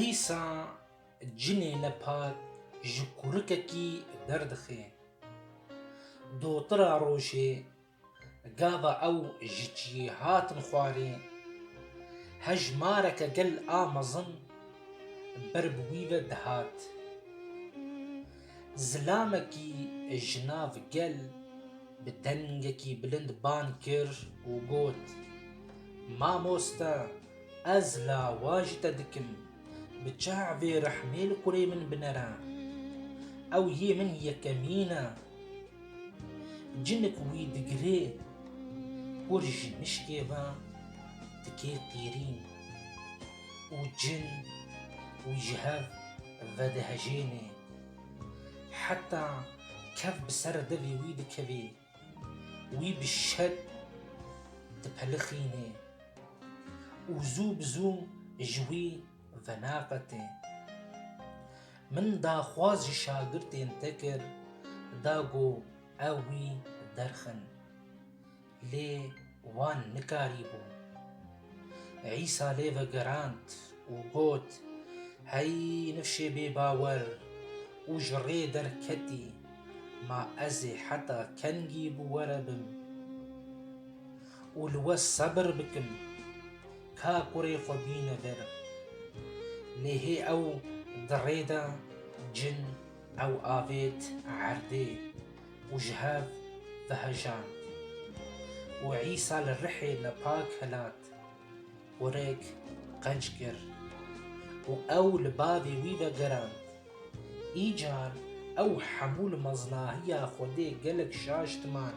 Îsa cinê nepak ji kurikekî derdixe. Dotira rojê gava ew ji cihê hatin xwarê, hejmareke gel a mezin ber bi wî ve dihat. Zilamekî ji nav gel bi dengekî bilind ban kir û got, Mamoste, ez lawa ji te dikim, bi çav ê rehmê li kurê min binere. Ew yê min yekemîn e. Cinik wî digirê kur ji mişkê ve dike qîrîn û cin wî ji hev vedihejêne. Heta kev bi ser devê wî dikeve, wî bi şet dipelixîne û zû bi zû ji wî venaqete. Min daxwaz ji şagirtên te kir da ku ew wî derxin. Lê wan nikarîbû. Îsa lê vegerand û got, Hey nifşê bêbawer û ji rê derketî, ma ez ê heta kengî bi we re bim û li we sebir bikim, ka kurê xwe bîne vir? Lê hê ew di rê de cin ew avêt erdê û ji hev ve hejand. Û Îsa li rihê nepak helat û rêk qenc kir û ew li bavê wî ve gerand. Îcar ew hemû li meznahiya Xwedê gelek şaş diman.